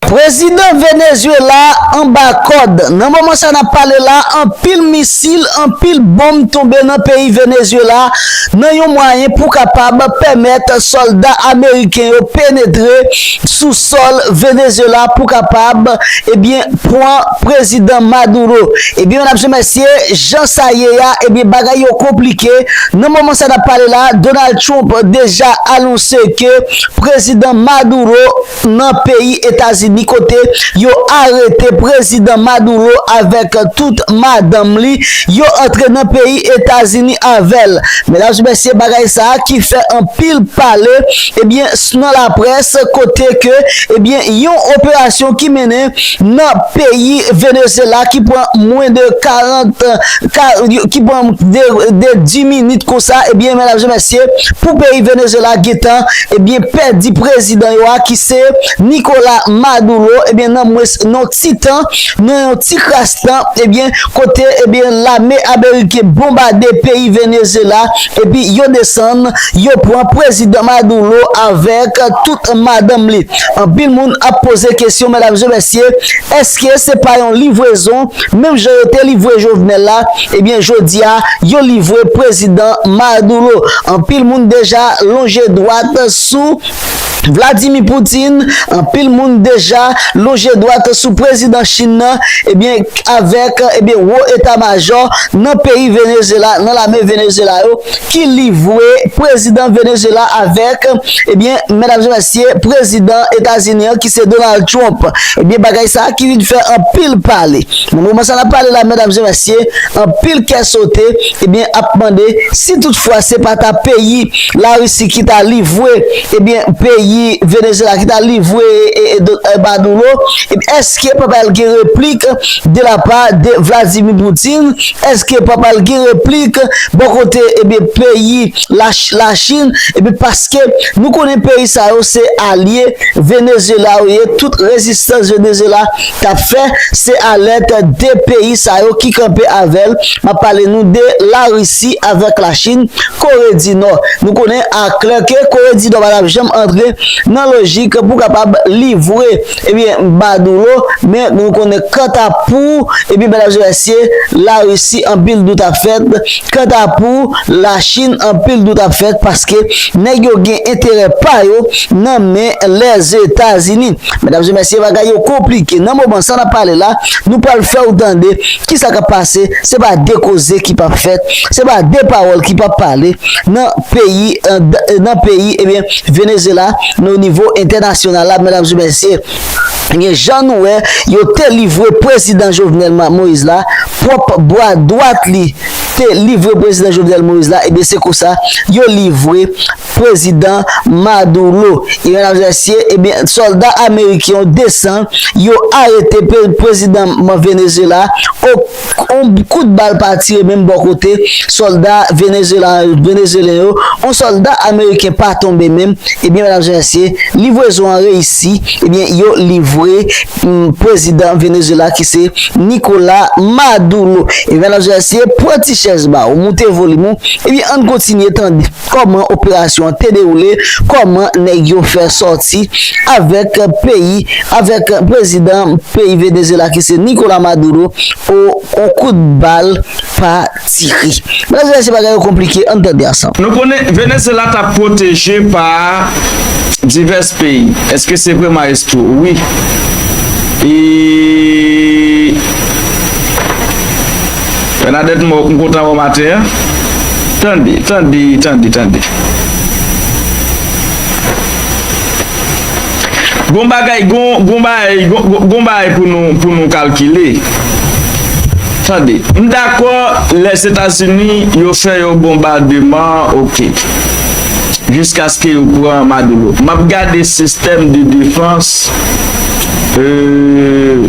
Prezidan Venezuela a anba kòd. Nan moman sa nap pale la, anpil misil, anpil bonm tonbe nan peyi Venezuela nan yon mwayen pou kapab pèmèt sòlda ameriken yo penetre sou sòl Venezuela pou kapab ebyen pwan prezidan Maduro. Ebyen medam se mesye jan sa ye a ebyen bagay yo konplike nan moman sa nap pale la Donald Trump deja anonse ke prezidan Maduro nan peyi Etazini kote yo arete Prezidan Maduro avèk tout madanm li, yo antre nan peyi Etazini avè l. Medam e mesye bagay sa a ki fè anpil pale ebyen nan laprès kote ke ebyen yon operasyon ki mennen nan peyi Venezyela ki pran mwen de 40 ka ki pran de 10 minit konsa ebyen medam e mesye pou peyi Venezyela gentan Ebyen pèdi prezidan yo a ki se Nikola Maduro ebyen nan mwens non ti tan nan yon ti kras tan ebyen kote ebyen lame ameriken bonbade peyi Venezyela epi yo desann yo pran prezidan Maduro avèk tout madanm li anpil moun ap poze kesyon medam e mesye eske se pa yon livrezon Menm jan yo te livre Jovenel la, ebyen jodi a yo livre prezidan Maduro. Anpil moun deja lonje dwat sou Vladimir Putin, anpil moun deja lonje dwat sou prezidan Chine nan, ebyen avèk ebyen wo eta majò nan peyi Venezyela, nan lame Venezyela yo ki livre prezidan Venezyela avèk Ebyen medam e mesye prezidan etazini an ki se Donald Trump ebyen bagay sa ki vin fè anpil pale nan moman sa nap pale la medam e mesye anpil kè sote ebyen ap mande si tout fwa se pa ta peyi larisi ki ta livwe ebyen peyi venezyela ki ta livwe e maduro ebyen eske pa pral gen replik de la pa de vladimi poutine eske pa pral gen replik bò kote ebyen peyi la chine epi paske nou konnen peyi sa yo se alye Venezuela yo ye tout rezistans Venezuela tap fè se alèt 2 peyi sa yo ki kanpe avèl map pale nou de la Russie avèk la chine kore di nò nou konnen a klè ke kore di nò pa tap janm antre nan lojik pou kapab livre Ebyen badoulo men nou konnen kanta pou ebyen bèl ajs larisi anpil dout ap fèt kanta pou lachin anpil dout ap fèt paske nèg yo gen enterè pa yo nan men lèzetazini medam e mesye bagay yo konplike nan moman sa nap pale la nou pral fèw tande kisa kap pase se pa de koze ki pap fèt se pa de pawòl ki pap pale nan peyi nan peyi ebyen. Venezyela men o nivo entènasyonal la medam e mesye gen jan nou wè yo te livre prezidan Jovenel Moïse la pwòp bwa dwat li te livre prezidan Jovenel Moïse la ebyen se konsa yo livre prezidan Maduro e medam e mesye ebyen sòlda ameriken yo desan yo arete prezidan Venezyela o on kout bal pa tire menm bò kote sòlda Venezuelen yo, on sòlda Ameriken pa tonbe menm, ebyen medam e mesye livrezon an reyisi, ebyen yo livre prezidan Venezuela ki se Nikola Madulo, ebyen medam e mesye pran ti chèz ba ou moute volim ou, ebyen ann kontinye tande. Kòman operasyon an te dewoule, kòman nèg yo fè sòti avèk peyi, avèk prezidan peyi Venezyela ki se Nicolas Maduro o on kout bal pa tire. Medam e mesye bagay yo konplike ann tande ansanm. Nou konnen Venezyela ta pwoteje pa divès peyi eske se vre maestro? Wi e. Bernadette m kontan wè w maten an Tande tande tande tande Gon bagay gon bagay gon bagay pou nou kalkile Tande m dakò Lèzetazini yo fè yon bonbademan ok jiskaske yo pran Maduro m ap gade sistèm de defans eee.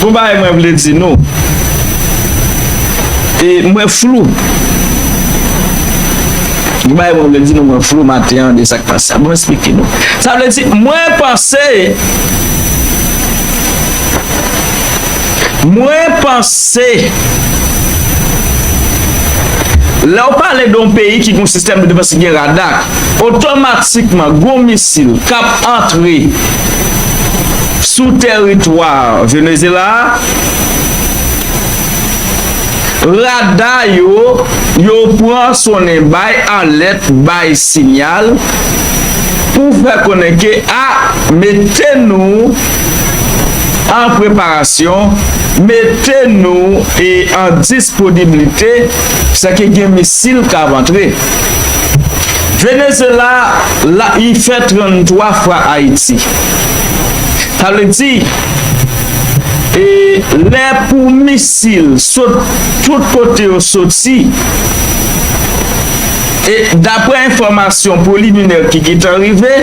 Gon bagay mwen vle di nou e mwen flou. Gon bagay mwen vle di nou mwen flou maten an de sak pase a. Bon esplike nou. Sa vle di mwen panse mwen panse lè ou pale don peyi ki gon sistèm de defans ki gen rada otomatikman gon misil kap antre Sou tèritwa Venezyela a, rada yo yo pran sonnen bay alèt, bay sinyal pou fè konnen ke a mete nou an preparasyon, mete nou e an disponiblite, se ke gen misil k ap antre. Venezyela la li fè 33 fwa Ayiti. Sa vle di, e lè pou misil sot tout kote yo soti, e dapre enfòmasyon preliminè ki gentan rive,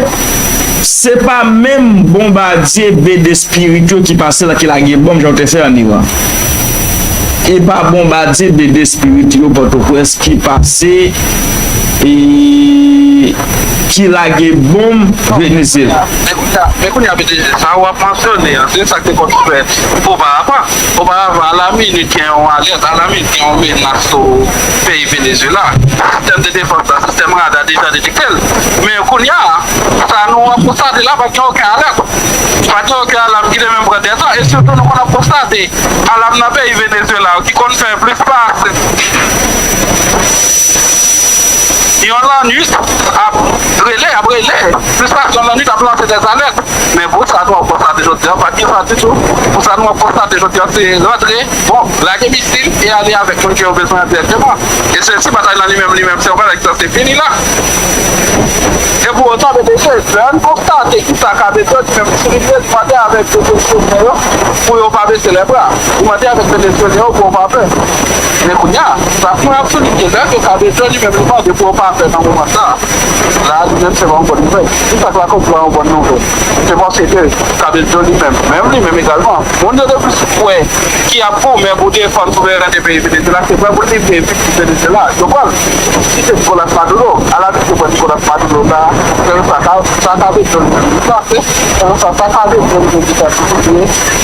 se pa menm bonbadye BD Spirit yo ki pase la ki lage bonm jan yo te fè an Iran. E pa bonbadye BD Spirit yo Pòtoprens ki pase e. ki lage bonm Venezyela. Men kounye a BTG, sa ou ap mansyone an, se sa k te konn fèt oparavan. Oparavan, alaminit gen yon alèt, alaminit gen yon menas sou peyi Venezyela. Sistèm de defans la, sistèm rada deja detekte l. Men kounye a, sa nou ap konstate la, pa t gen oken alèt. Pa t gen oken alam ki te menm pran 2 tan. E sitou nou konn ap konstate alam nan peyi Venezyela yo ki konn fè plis pase. Yon lanwit ap rele, ap rele, plis pase yon lanwit ap lanse dè zalèt. Men pou sa nou ap konstate jodi an, pa gen sa ditou. Pou sa nou ap konstate jodi an se rantre, bon, lage misil e ale avèk moun ke yo bezwen an dirèkteman. E se si batay lan li menm, li menm se yon bagay ki sanse fini la. E pou otan BDG, lè li konstate ki sa Kabe di yo, li menm li soulinye, li mande avèk Venezyelyen yo pou yo pa bese lè bra. Li mande avèk Venezyelyen yo pou yo pa pè. Men kounya, sa pran absolit ke lèd yo ka bezwen li menm li mande pou yo pa fè nan moman sa. La a li menm se pa yon bòn nouvèl. Ki sa k la kòz li pa yon bòn nouvèl? Se paske ke Kabedjo li menm, menm li menm egalman, moun yo te plis kwè ki ap goumen pou defann souverènte peyi Venezyela se vre pou l te vle viktim Venezyela. Yo pran l si se Nikolas Maduro. Ala vit yo pran Nikolas Maduro sa a. Selon sa Kabedjo li menm li panse, selon sa sa Kabedjo li menm li ta sipozeye,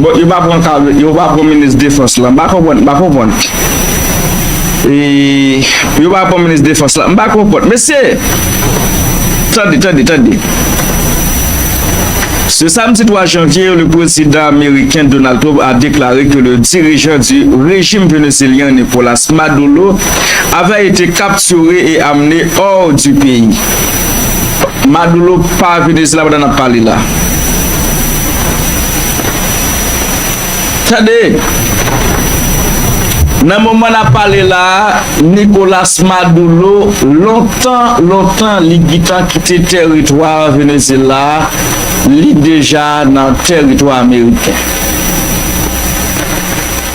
Bon yo pa pran kare yo pa pran minis defans la m pa konprann m pa konprann eee yo pa pran minis defans la m pa konprann mesye tande tande tande se samdi 3 janvye le prezidan ameriken Donald Trump a deklare ke le dirijan di rejim venezelyen Nicolas Maduro avè ete kapture e amne or di peyi Maduro pa venezelyen la pandan n ap pale la. Tande! Nan moman nap pale la a, Nicolas Madoulo, lontan, lontan li gitan kite tèritwa Venezyela a, li deja nan tèritwa ameriken.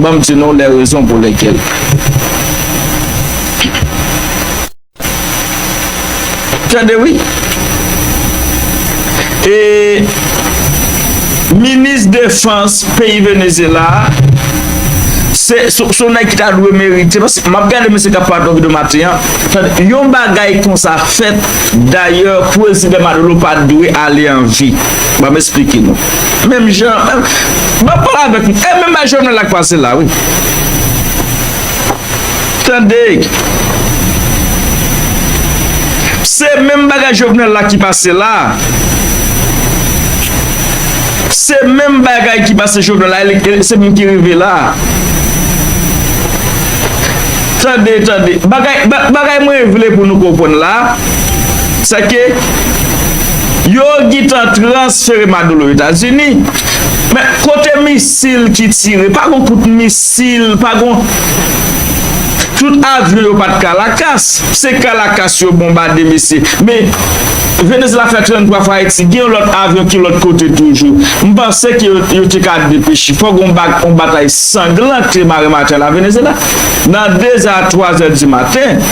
Banm di nou lè rezon pou lèkèl. Tande wi. E minis defans peyi Venezyela a se sou nèg ki ta dwe merite paske map gade mesye kap pale nan video maten an. Tande yon bagay konsa fèt dayè prezidan Madolo pa dwe ale anvi. Banm esplike nou. Menm jan Bab pale avèk nou e menm bagay Jovenel la k pase la wi Tande Se menm bagay Jovenel la ki pase la Se menm bagay ki pase Jovenel la e se menm ki rive la Tande tande Bagay mwen vle pou nou konprann la Se ke Yo gitan transfere Madolo Etazini, men kote misil ki tire, pa gon kout misil, pa gon, tout avyon yo pat Kalakas, se Kalakas yo bonbade mesye, men Venezela fè 33 fwa Ayiti, gen yon lòt avyon ki lòt kote toujou, m panse ke yo te ka depeche, fò gon yon batay sanglan te mare maten la Venezela, nan 2 zè a 3 zè di maten.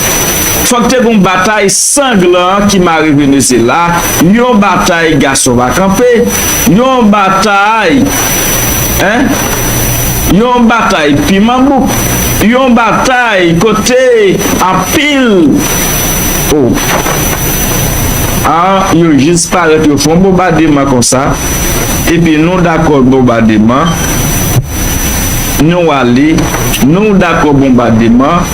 Fòk te gon batay sanglan ki mare Venezyela, yon batay gason pa kanpe, yon batay eh, yon batay piman bouk, yon batay kote anpil oh ah yo jis parèt yo fon bonbademan konsa epi nou dakò bonbademan, nou ale, nou dakò bonbademan.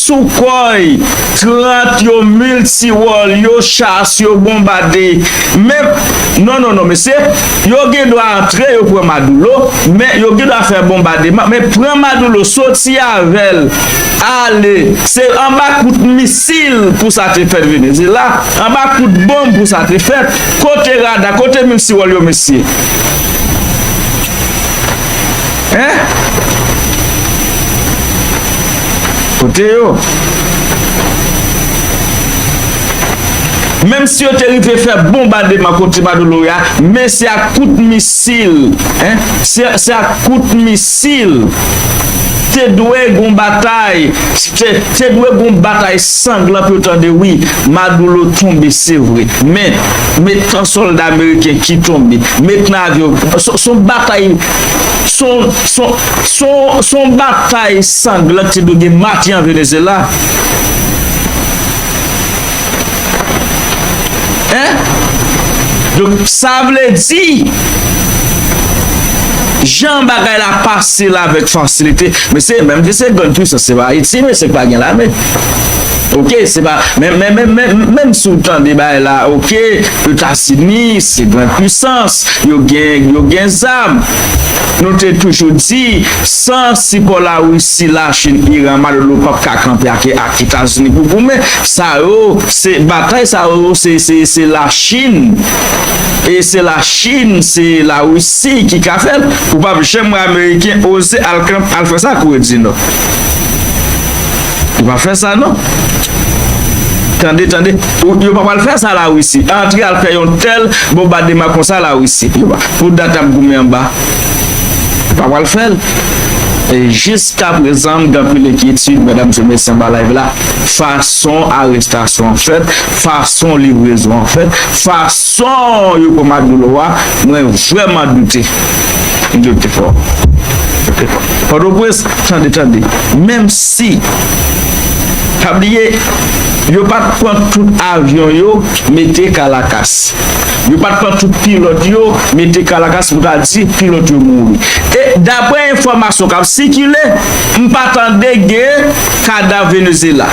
Soukhoi 30 yo multi-role yo chas yo bonbade menm non non non mesye yo gen dwa antre yo pran madoulo men yo gen dwa fè bonbademan men pran madoulo soti avèl ale se anba kout misil pou sa te fèt venezela anba kout bonb pou sa te fèt kote rada kote multi-role yo mesye hein. Kote yo? Menm si yo te rive fè bonbademan kot Ciba do Loya, men se ak kout misil, en, se ak kout misil. Te dwe gon batay, te dwe gon batay sanglan pou yo tande wi, Madoulo tonbe se vre, men, met tan solda ameriken ki tonbe, met nan avyon, son batay, son, son. Se yon batay sanglan ki te dwe gen mati an Venezyela. Donk sa vle di, jan bagay la pase la vek fasilite, mesye, menm ke se grann pwisans, se pa Ayiti mesye k pa gen lame. Ok, se pa, men, men, men, men, menm si w tande bagay la, ok, Etazini se grann pwisans, yo gen, yo gen zam. Nou te toujou di, san sipò Larisi, Lachin, Iran, Maduro pap ka kanpe ake ak Etazini pou goumen. Sa yo, se batay sa yo, se, se, se Lachin, e se Lachin, se Larisi ki ka fè l. Ou pap janm wè Ameriken oze al kanpe, al fè sa ak Kore di Nò. Yo pa fè sa non. Tande, tande. Yo pa pral fè sa la Russie. Antre al fè yon tel bombadema konsa la Russie. Pou dat ap goumen anba. Yo pa pral fè l. E jiska prezan m gen anpil enkyetid medam se mesye anba live la fason arestasyon an fèt fason livrezon an fèt fason Son yo pou Maduro a mwen vreman doute. Doute fò. Doute fò. Pòtoprens tande tande. Menm si pa bliye yo pat pran tout avyon yo mete Kalakas. Yo pat pran tout pilòt yo mete Kalakas pou ta di pilòt yo mouri. E daprè enfòmasyon kap sikile m pa tande gen kadav Venezyela.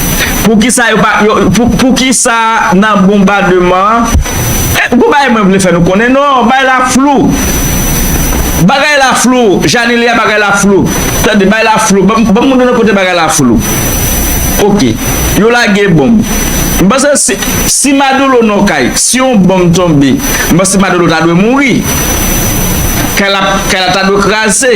Poukisa nan bonbademan an, gwo bagay mwen vle fè nou konnen non, bagay la flou, bagay la flou, Janilia bagay la flou, tande bagay la flou, banm moun yo nan kote bagay la flou, ok, yo lage bonm, m panse si Maduro nan yon kay, si yon bonm tonbe, m panse Maduro ta dwe mouri, kay la ta dwe kraze.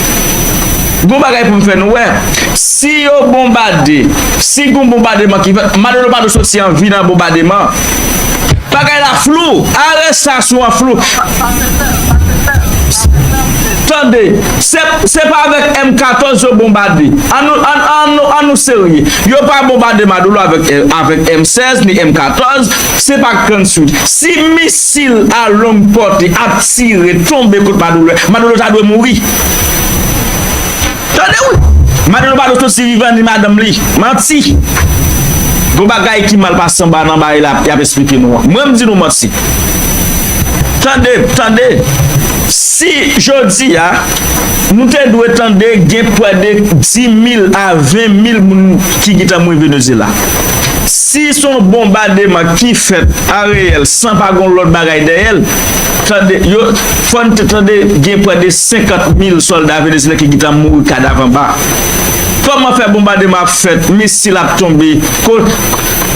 Gon bagay pou m fè nou wè, si yo bonbade, si gon bonbademan ki fèt, Manolo pa dwe soti an vi nan bonbademan. Bagay la flou, arestasyon an flou. Tande, se pa avèk M14 yo bonbade, an nou serye. Yo pa bonbade Manolo avèk M16 ni M14, se pa grann swi. Sil a long porte ap tire tonbe kot madoulè madoulè ta dwe mouri tande wi madoulè pa dwe soti vivan ni madanm li manti gon bagay ki mal pase anba nan bagay la yap esplike nou an mwen mdi nou manti tande tande si jodi a nou te dwe tande gen pwede 10 mil a 20 mil moun ki gitan mouri venezela. Si se yon bonbademan ki fèt an reyèl san pa gen yon lòt bagay dèyè l, tande, yo, fò n te tande gen prè de 50 mil sòlda venezyelyen ki gentan mouri kadav anba. Kòman fè bonbademan ap fèt, misil ap tonbe, ko,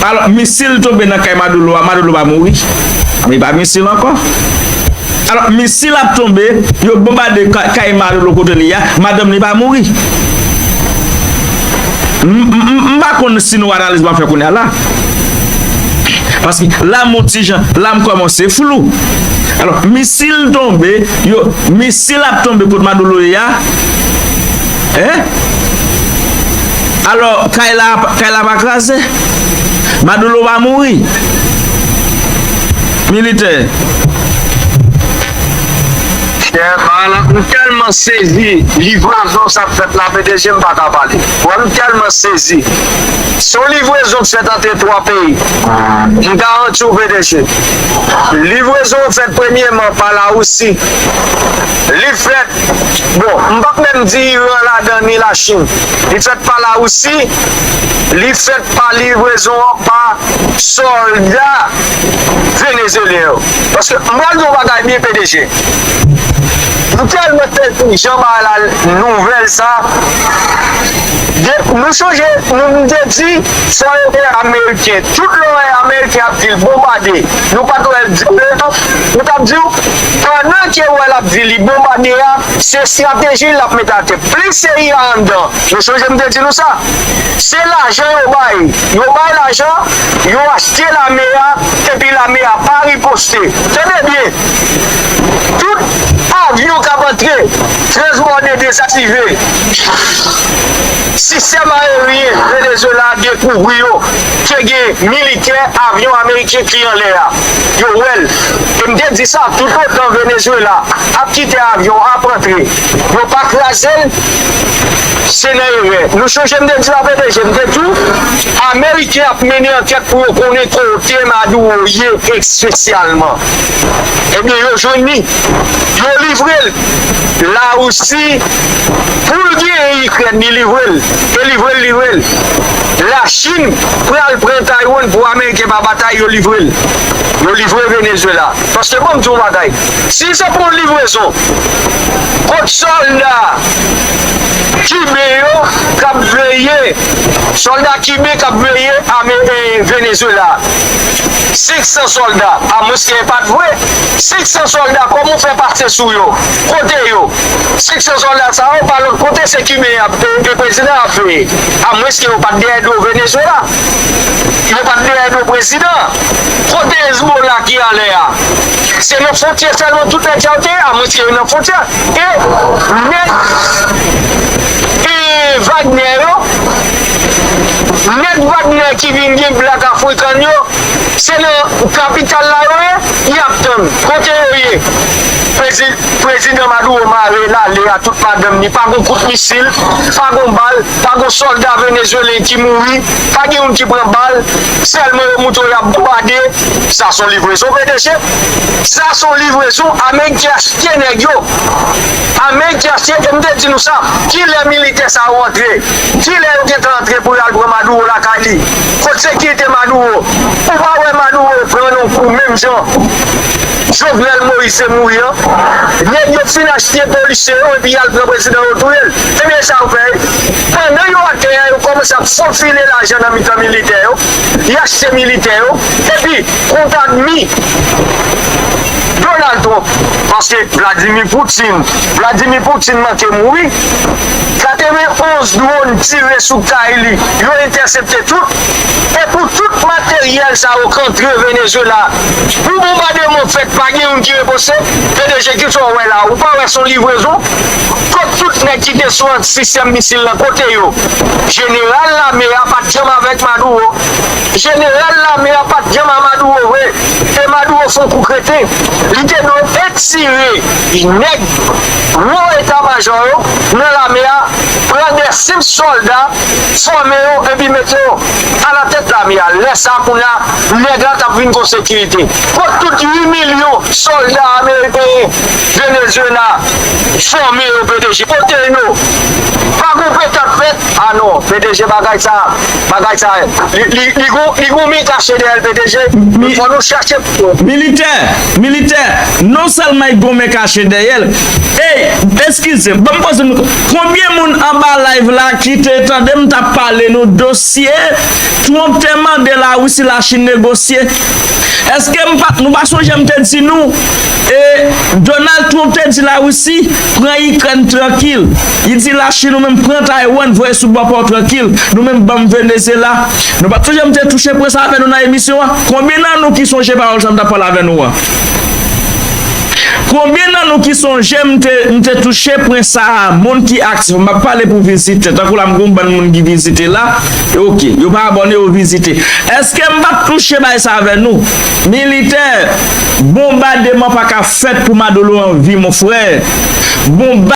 alò, misil tonbe nan kay Madoulo a, Madoulo pa mouri? Men li pa misil ankò. Alò, misil ap tonbe, yo bonbade kay Madoulo kote li a, madanm li pa mouri? M pa konn si nou analiz map fè kounya la. Paske la m on ti jan, la m kòmanse flou. Alò, misil tonbe, yo, misil ap tonbe kot Madoulo ye a. Hein? Alò, kay la, kay la pa kraze? Madoulo pa mouri? Militè. Chèval m tèlman sezi livrazon sa k fèt la pdg m paka pale wè m tèlman sezi se yon livrezon k fèt antre 3 peyi m garanti w pdg livrezon an fèt premyeman pa la Russie li fèt bon m pap menm di Iran ladan ni la Chine li fèt pa la Russie li fèt pa livrezon an pa sòlda venezyelyen yo. Paske m pral di yon bagay byen pdg m tèlman tèt pou jan bagay la nouvèl sa nou sonje nou m te di sa yo te ameriken tout lè w wè ameriken ap di l bonbade nou pat wè l di anyen yo tap di w pandan ke w wè l ap di li bonbade a se estrateji l ap mete atè plis cia anndan nou sonje m te di nou sa. Se lajan yo bay, yo bay lajan, yo achte lame a epi lame a pa riposte. Tande byen, tout avyon k ap antre, transbòde, dezaktive, sistèm aeryen Venezyela dekouvri yo ke gen militè, avyon ameriken ki anlè a. Yo wè l. E m te di sa, toutotan Venezyela ap kite avyon ap antre, yo pa kraze l, Se nan erè. Nou sonje m te di w a pwotèje, m te di w ameriken ap mennen ankèt pou yo konnen kote Maduro ye espesyalman. Ebyen yo jwenn li, yo livre l Larisi pou l genyen Ikrèn li livre l e livre l livre l. Lachin pral pran Taiwan pou ameriken pa batay yo livre l. Yo livre Venezuela paske bon m di w yon bagay si se pa yon livrezon kont sòlda kiben yo k ap veye sòlda kiben k ap veye ame Venezuela 500 sòlda a mwens ke e pa t vre 500 sòlda kòman w fè pase sou yo kote yo 500 sòlda sa yo pa lòt kote se kiben y ap e prezidan an ap veye a mwens ke yo pa t dèyè do Venezuela yo pa t dèyè do prezidan an. Kote Hezbollah ki anlè a? Se nan fwontyè sèlman tout nèg sa yo te ye? A mwens ke yo nan fwontyè. E nèg Wagner yo, nèg Wagner ki vin gen black african yo, se nan kapital la yo ye? Y ap tann. Kote yo ye? Prezidan Maduro mare lale a tout madanm li, pa gon kout misil, pa gon bal, pa gon sòlda venezuelen ki mouri, pa gen youn ki pran bal. Selman yo mouton yap bonbade sa son livrezon pdg sa son livrezon ameyk ki achte neg yo ameyk ki achte em te di nou sa kilè militè sa yo antre kilè yo gentan antre pou yo al pran maduro lakay li kot sekirite maduro ou pa wè maduro pran yon kou menm jan. Jovenel Moïse se mouri an nèg yo fin achte polisye yo epi yal pran prezidan yo touyel ebyen sa yo fè pandan yo atè a yo kòmanse ap fofile lajan nan mitan militè yo y achte militè yo epi kont admi Donald Trump. Paske Vladimir Poutine Vladimir Poutine manke mouri 91 drone tire sou kay li yo entèsepte tout epou tout materyèl sa yo k antre Venezuela Pou bonbademon fèt pa gen youn ki reposte, pdg kisa w wè la ou pa wè son livrezon, kot tout nèg ki te sou ant sistèm misil lan kote yo, jeneral lame a pat janm avèk Maduro, jeneral lame a pat janm a Maduro vre, e Maduro son kou kreten, li te dwe etire nèg wo eta majò yo nan lame a, pran de senp sòlda fòme yo epi mete yo. alatèt lame a, lè sa kounye a nèg la t ap vin gon sekirite. Kot tout 8 milyon sòlda ameriken Venezyela fòme yo pdg? Kote yo? Pa gon pekap fèt? A non pdg bagay sa bagay sa li gon men kache dèyè l pdg, fò nou chache. Militè, militè, non sèlman li gon men kache dèyè l, ey, eskize, ban m poze m. Konbyen moun anba live la kite tande m tap pale nou dosye Trump te mande la Russie la Chine negosye eske m pa nou pa sonje m te di nou e Donald Trump te di la Russie pran ikrèn trankil li di la Chine ou menm pran Taiwan voye sou bò paw trankil nou menm banm Venezyela nou pa sonje m te touche pwen sa avè nou nan emisyon an konbyen nan nou ki sonje pawòl sa m tap pale avè nou an. Konbyen nan nou ki sonje m te m te touche pwen sa a moun ki aktif m ap pale pou vizitè tankou la m gen yon bann moun ki vizite la e ok yo pa abòne yo vizite èske m pa t touche bay sa avè nou militè bonbademan pa ka fèt pou madolo anvi mon frè bonbad.